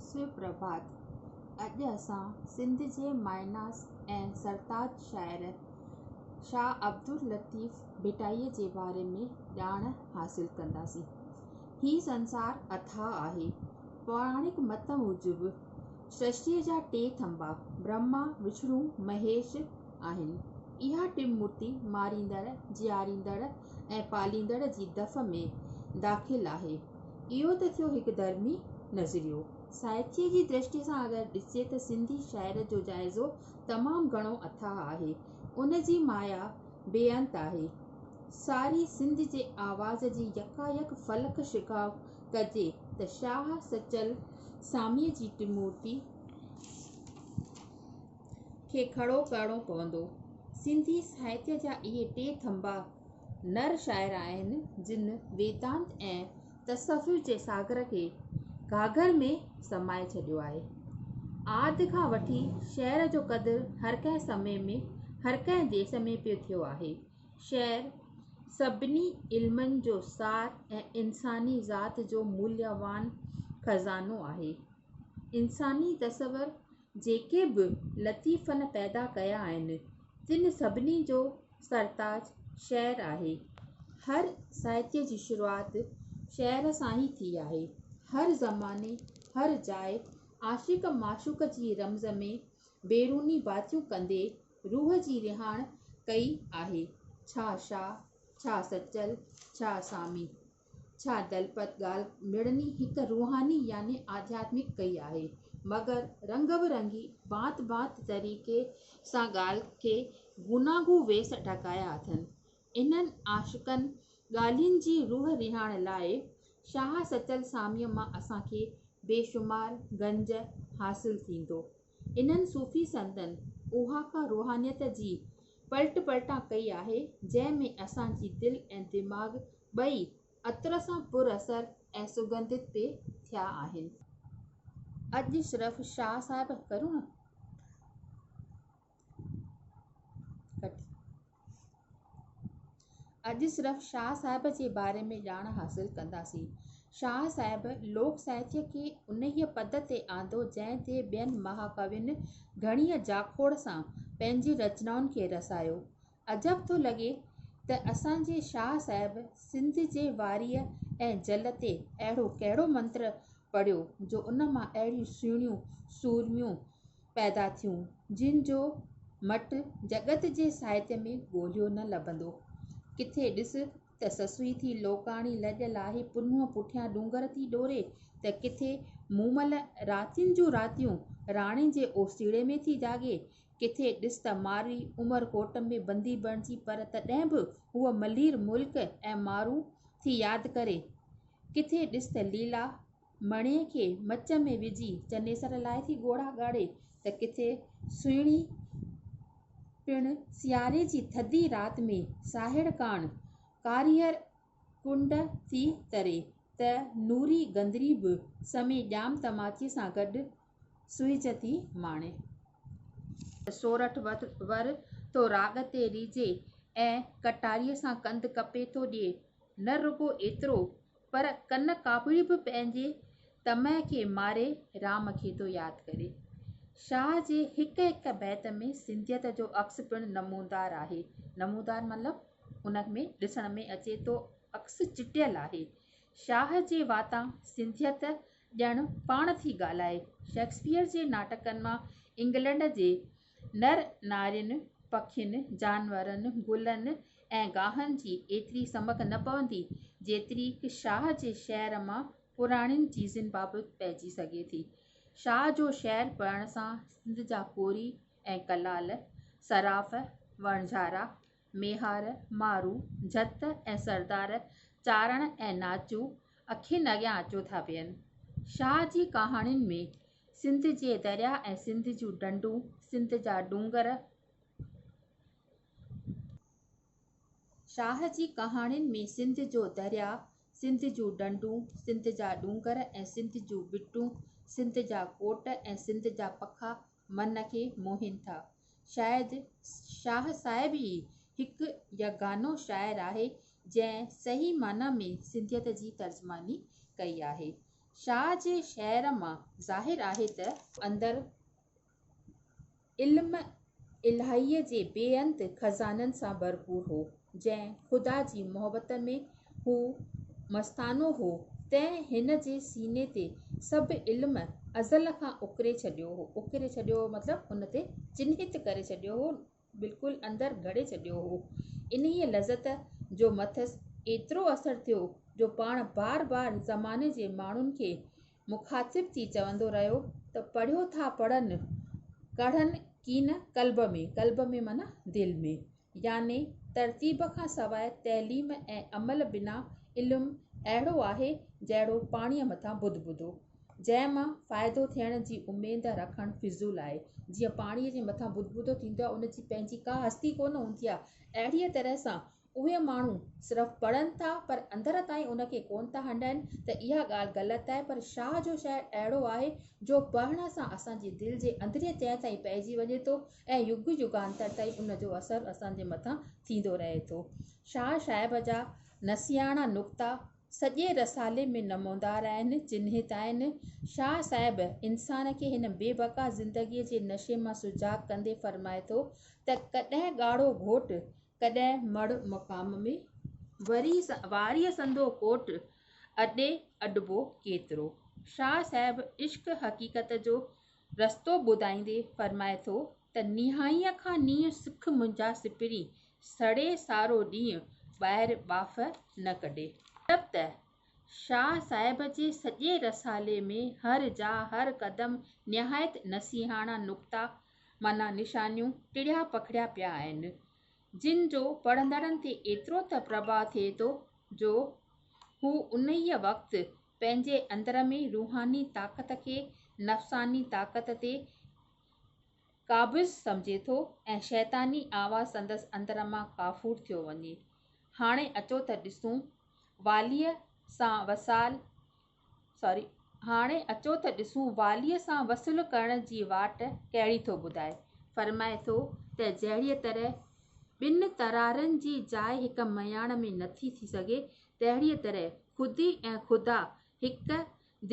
سپرڀات، اڄ اسان سنڌ جي مائناس ۽ سرتاج شاعر شاهه عبداللطيف ڀٽائي جي باري ۾ ڄاڻ حاصل ڪنداسين. هي سنسار اٿاهه آهي. پوراڻڪ مت موجب سرشتيء جا ٽي ٿنڀا، برهما، وشنو، مهيش، آهن. اها ٽن مورتي ماريندڙ، جياريندڙ ۽ پاليندڙ جي دف ۾ داخل آهي. اهو ته ٿيو هڪ ڌرمي نظريو. سائتيء جي درشٽيء سان اگر ڏسجي ته سنڌي شاعر جو جائزو تمام گهڻو اٿاهه آهي. ان جي مايا بي انت آهي. ساري سنڌ جي آواز جي يڪايڪ فلڪ شگاف ڪجي ته شاهه سچل ساميء جي ٽمورتي، کي کڙو ڪرڻو پوندو. سنڌي ساهتيه جا اهي ٽي ٿنڀا نر شاعر آهن، جن ويدانت ۽ تصوف جي ساگر کي گهاگهر ۾ سمائي ڇڏيو آهي. آد کان وٺي شعر جو قدر هر ڪنهن سمي ۾ هر ڪنهن ديس ۾ پيو ٿيو آهي. شعر سڀني علمن جو سار ۽ انساني ذات جو موليوان خزانو آهي. انساني تصور جيڪي به لطيفن پيدا ڪيا آهن، تن سڀني جو سرتاج شعر آهي. هر ساهتيه جي شروعات شعر سان ئي ٿي آهي. هر زماني، هر جاء، عاشق معشوق جي رمز ۾ بيروني باتيون ڪندي روح جي رهاڻ ڪئي آهي. ڇا شاهه، ڇا سچل، ڇا سامي. ڇا دلپت ڳالهه مڙني هڪ روحاني يعني آڌياتمڪ ڪئي آهي، مگر رنگ به رنگي ڀانت ڀانت طريقي سان ڳالهه کي گوناگون ويس ڍڪايا اٿن. انهن عاشقن ڳالهين جي روح رهاڻ لاء شاهه سچل ساميء مان اسان کي بيشمار گنج حاصل ٿيندو. انهن صوفي سنتن اها ڪا روحانيت جي پلٽ پلٽان ڪئي آهي، جنهن ۾ اسان جي دل ۽ دماغ ٻئي عطر سان پر اثر ۽ سگنڌت پئي ٿيا آهن. اڄ شرف شاهه صاحب ڪرڻ. اڄ صرف شاهه صاحب جي باري ۾ ڄاڻ حاصل ڪنداسين. شاهه صاحب لوڪ ساهتيه کي انهيء پد تي آندو جنهن تي ٻين مهاڪوين گهڻيء جاکوڙ سان پنهنجين رچنائن کي رسايو. عجب ٿو لڳي ته اسان جي شاهه صاحب سنڌ جي واريء ۽ جل تي اهڙو ڪهڙو منتر پڙهيو جو ان مان اهڙيون سهڻيون سورميون پيدا ٿيون، جن جو مٽ جڳت جي ساهتيه ۾ ڳوليو نه لڀندو. ڪٿي ڏس ته سسئي ٿي لوڪاڻي لڄ لاهي پنهونء پٺيان ڏونگر ٿي ڏوري ته ڪٿي مومل راتين جون راتيون راڻي جي اوسيڙي ۾ ٿي جاڳي. ڪٿي ڏس ته مارئي عمر ڪوٽ ۾ بندي بڻجي پر تڏهن به هوء ملير ملڪ ۽ مارون ٿي ياد ڪري. ڪٿي ڏس ته ليلا. مڻيء کي مچ ۾ وجهي چنيسر لاء ٿي ڳوڙها ڳاڙي ته ڪٿي سهڻي پڻ سياري جي ٿڌي رات ۾ ساهڙ ڪاڻ ڪاريهر ڪنڊ ٿي تري ته نوري گندري به سمي ڄام تماچي سان گڏ سهج ٿي ماڻي. سورٺ ور ٿو راڳ تي ريجهي ۽ ڪٽاريء سان ڪنڌ ڪپي ٿو ڏئي. نه رڳو ايترو پر ڪن ڪاپڙي به پنهنجي طمع کي ماري رام کي ٿو ياد ڪري. شاهه جي هڪ هڪ بيت ۾ سنڌيت جو عڪس پڻ نمودار آهي. نمودار مطلب ان ۾ ڏسڻ ۾ اچي ٿو عڪس چٽيل آهي. شاهه جي واتان سنڌيت ڄڻ پاڻ ٿي ڳالهائي. شيڪسپيئر جي ناٽڪن مان انگلنڊ جي نر نارين، پکين، جانورن، گلن ۽ گاهن جي ايتري سمڪ نه پوندي، جيتريڪ شاهه جي شعر مان پراڻين چيزن بابت پئجي سگهي ٿي. شاهه جو شعر پڙهڻ سان سنڌ جا ڪوري ۽ ڪلال، صراف، وڻجارا، ميهار، مارو، جت ۽ سردار چارڻ ۽ ناچو اکين اڳيان اچو ٿا ويهن. شاهه جي ڪهاڻين ۾ سنڌ جي درياء ۽ سنڌ جون ڍنڍون، سنڌ جا ڏونگر، شاهه جي ڪهاڻين ۾ سنڌ جو درياء، سنڌ جون ڍنڍون، سنڌ جا ڏونگر ۽ سنڌ جون ٻٽون، سنڌ جا ڪوٽ ۽ سنڌ جا پکا من کي موهين ٿا. شايد شاهه صاحب ئي هڪ يگانو شاعر آهي جنهن صحيح معنيٰ ۾ سنڌيت جي ترجماني ڪئي آهي. شاهه جي شعر مان ظاهر آهي ته. اندر علم الاهيء جي بي انت خزانن سان ڀرپور هو. جنهن خدا جي محبت ۾ هو مستانو هو، تنهن هن جي سيني تي سڀ علم ازل کان اڪري ڇڏيو هو. اڪري ڇڏيو هو مطلب ان تي چنهت ڪري ڇڏيو هو، بلڪل اندر گهڙي ڇڏيو هو. انهيء لذت جو مٿس ايترو اثر ٿيو جو پاڻ بار بار زماني جي ماڻهن کي مخاطب ٿي چوندو رهيو ته پڙهيو ٿا پڙهن ڪڙهن ڪين قلب ۾، قلب ۾ معنيٰ دل ۾، يعني ترتيب کان سواء تعليم ۽ عمل بنا علم اهڙو آهي جهڙو پاڻيء مٿان بد بدو، جنهن مان فائدو ٿيڻ جي اميد رکڻ فضول آهي. جيئن پاڻيء جي مٿان بد بدو ٿيندو آهي، ان جي پنهنجي ڪا هستي ڪونه هوندي آهي، اهڙيء طرح سان اهي ماڻهو صرف پڙهن ٿا پر اندر تائين ان کي ڪونه ٿا هنڊائين ته اها ڳالهه غلط آهي پر شاهه جو شعر اهڙو آهي جو پڙهڻ سان اسان جي دل جي اندرينء تهه تائين پئجي وڃي ٿو ۽ يگ يگانتر تائين ان جو اثر اسان جي مٿان ٿيندو رهي ٿو شاهه صاحب جا نسياڻا نقطا سڄي رسالي ۾ نمودار آهن چنهت آهن شاهه صاحب انسان کي هن بي بقا زندگي جي نشي مان سجاڳ ڪندي فرمائي ٿو ته ڪڏهن ڳاڙهو گهوٽ ڪڏهن مڙهه مقام ۾، وري واريء سندو ڪوٽ، اڏي اڏبو ڪيترو. شاهه صاحب عشق حقيقت جو رستو ٻڌائيندي فرمائي ٿو ته نيهائيء کان نينهن سک منهنجا سپري، سڙي سارو ڏينهن ٻاهر ٻاڦ نه ڪڍي. مطلب ته شاهه صاحب جي سڄي رسالي ۾ هر جاء، هر قدم نهايت نصيحاڻا نقطا معنيٰ نشانيون ٽڙيا پکڙيا پيا آهن، جن جو پڙهندڙن تي ايترو ته پرڀاء ٿئي ٿو جو هو انهيء وقت پنهنجي اندر ۾ روحاني طاقت کي نفساني طاقت تي قابض سمجهي ٿو ۽ شيطاني آواز سندس اندر مان ڪافور ٿيو وڃي. هاڻي اچو ته ڏسون واليء سان وصال سوري هاڻي اچو ته ڏسون واليء سان وصل ڪرڻ جي واٽ ڪهڙي ٿو ٻڌائي. فرمائي ٿو ته جهڙيء طرح ٻن ترارين جي جاء هڪ مياڻ ۾ نٿي ٿي سگهي، تهڙيء طرح خودي ۽ خدا هڪ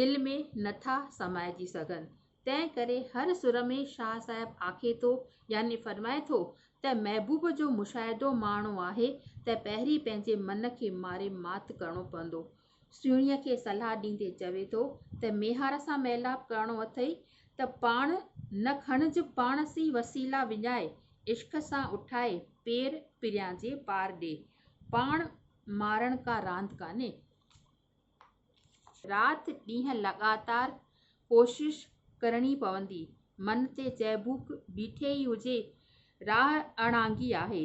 دل ۾ نٿا سمائجي سگهن. تنهن ڪري هر سر ۾ شاهه صاحب آکي ٿو يعني فرمائي ٿو ته محبوب جو مشاهدو ماڻڻو آهي ته پهرين پنهنجي من کي ماري مات ڪرڻو پوندو سهڻيء کي صلاح ڏيندي چوي ٿو ته ميهار سان ميلاپ ڪرڻو اٿئي ته پاڻ نه کڻج پاڻس ئي وسيلا وڃائي عشق سان اٺائي پير پريان جي پار ڏي پاڻ مارڻ ڪا راند ڪانهي. رات ڏينهن لڳاتار ڪوشش ڪرڻي پوندي من تي چهبوڪ بيٺي ئي هجي راهه اڻانگي آهي.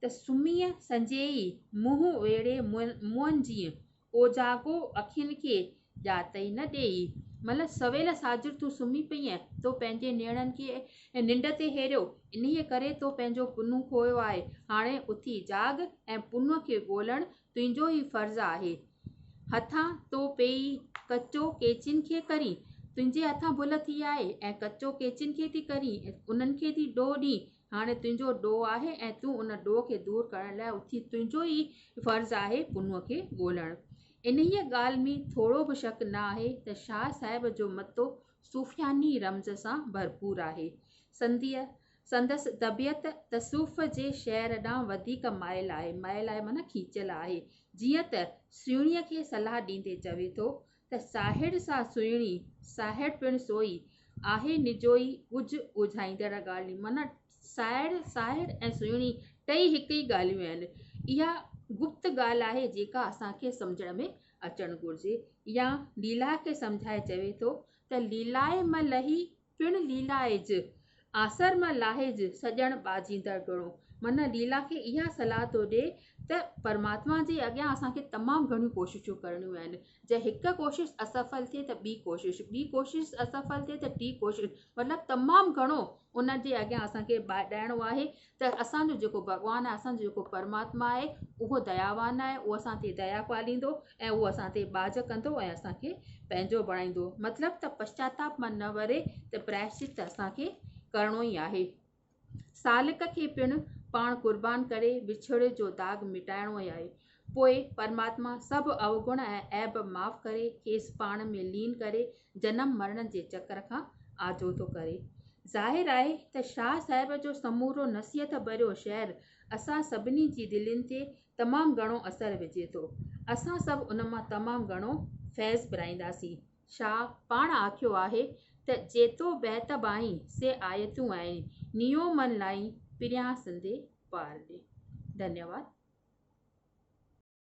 ته سميء سنجهيئي منهن ويڙهي مون جيئن اوجاڳو اکين کي ڄاتائي نه ڏيئي مئل سويل ساجر تون سمهي پئينء، تو پنهنجي نيڻن کي ننڊ تي هيريو، انهيء ڪري تو پنهنجو پنهون کويو آهي، هاڻي اٿي جاڳ ۽ پنهون کي ڳولڻ تنهنجو ئي فرض آهي. هٿان تو پئي ڪچو ڪيچين کي ڪرين، تنهنجي هٿان ڀل ٿي آهي ۽ ڪچو ڪيچين کي ٿي ڪرين، انهن کي ٿي ڏوهه ڏين، هاڻي تنهنجو ڏوهه آهي ۽ تون ان ڏوهه کي دور ڪرڻ لاء اٿي تنهنجو ئي فرض آهي پنهونء کي ڳولڻ. انهيء ڳالهه ۾ ٿورو به شڪ نه آهي ته شاهه صاحب جو متو صوفياني رمز سان ڀرپور آهي. سنديء سندس طبيعت تصوف جي شعر ڏانهن وڌيڪ مائل آهي، مائل آهي معنيٰ کيچيل آهي، جيئن ته سهڻيء کي صلاح ڏيندي چوي ٿو، ته ساهڙ سا سهڻي، ساهڙ پڻ سوئي، آهي نجوئي ڳجهه ڳوجهائيندڙ ڳالهيون. معنيٰ ساهڙ، ساهڙ ۽ سهڻي ٽئي هڪ ئي ڳالهيون آهن. اها گپت ڳالهه آهي جيڪا اسان کي سمجهڻ ۾ اچڻ گهرجي. يا ليلاه کي سمجهائي چوي ٿو ته ليلائي م لهي پڻ ليلائج، آسر مان لاهج، سڄڻ ٻاجهيندڙ ڊوڙو. معنيٰ ليلا کي اها صلاح ٿو ڏئي ته پرماتما جي اڳيان اسان کي تمام گهڻيون ڪوششون ڪرڻيون آهن. جي هڪ ڪوشش اسفل ٿئي ته ٻي ڪوشش، ٻي ڪوشش اسفل ٿئي ته ٽي ڪوشش مطلب تمام گهڻو ان جي اڳيان اسان کي ٻاڏائڻو آهي ته اسان جو جيڪو ڀڳوان آهي، اسان جو جيڪو پرماتما آهي، اهو دياوان آهي، اهو اسان تي ديا پاليندو ۽ اهو اسان تي ٻاجهه ڪندو ۽ اسان کي پنهنجو بڻائيندو. مطلب ته پشچاتاپ من نه وري ته پرائشچت ته اسان کي ڪرڻو ئي آهي. سالڪ کي پڻ پاڻ قربان ڪري وڇوڙي جو داغ مٽائڻو ئي آهي. پوء پرماتما سڀ اوگڻ ۽ عيب معاف ڪري کيس پاڻ ۾ لين ڪري جنم مرڻ جي چڪر کان آجو ٿو ڪري. ظاهر آهي ته شاهه صاحب جو سمورو نصيحت ڀريو شعر اسان سڀني جي دلين تي تمام گهڻو اثر وجهي ٿو. اسان سڀ ان مان تمام گهڻو فيض پرائينداسين. شاهه پاڻ آکيو آهي ته جيتو بيت بائين سي آيتون آئين نيو من لائين پريان سندي پار ڏي. ڌنيواد.